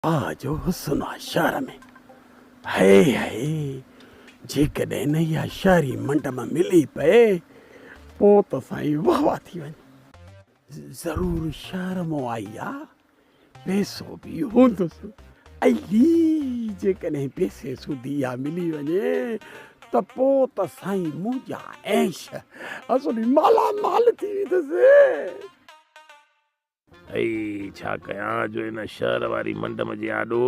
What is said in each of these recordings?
آ جو حسن آ شعر ۾، هيء هيء، جيڪڏهن اها شعري منڊ مان ملي پئي، پوء ته سائين واه واه ٿي وڃي. ضرور شعر مون آئي آ، پيسو به هوندس. علي، جيڪڏهن پيسي سوڌي اها ملي وڃي، ته پوء ته سائين منهنجا عيش حسن مالا مال ٿي ويندس. اي ڇا ڪيان جو ان شهر واري منڊم جي آڏو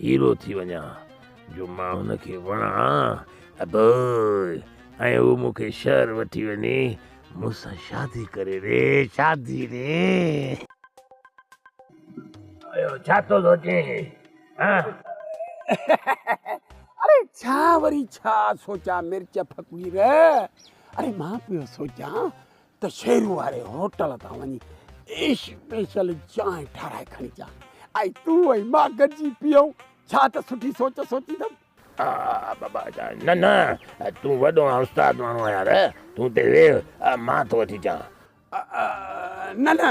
هيرو ٿي وڃان، جو مان هن کي وڻان، ابوء، ۽ هو مون کي شهر وٺي وڃي مون سان شادي ڪري ري، شادي ري. اهو ڇا ٿو سوچين؟ اڙي ڇا وري ڇا سوچان مرچ فقير، اڙي مان پيو سوچان ته شيرو واري هوٽل تان وڃي اسپيشل چانهه ٺاهرائي کڻي اچان ۽ تون ۽ مان گڏجي پيئون ڇا ته سٺي سوچ سوچيندم. آء بابا چيائين، نه نه تون وڏو ۽ استاد ماڻهو آهين يار، تون اتي ويهه مان ٿو اچي اچان. آء نه نه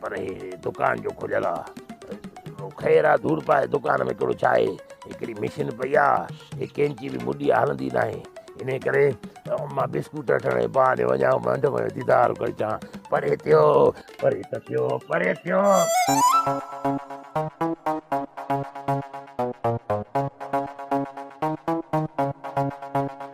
پر هي دڪان جو کليل آ. خير آ ڌوڙ پاء دڪان ۾ ڪهڙو ڇا آهي. هڪڙي مشين پئي آ. هي ڪينچي به مڍي آ هلندي ناهي. انهي ڪري مان بسڪوٽ رٽڻ جي بهاني وڃان ۽ منڍ ۾ ديدار ڪري اچان. پري ٿيو. پري ته ٿيو. پري ٿيو.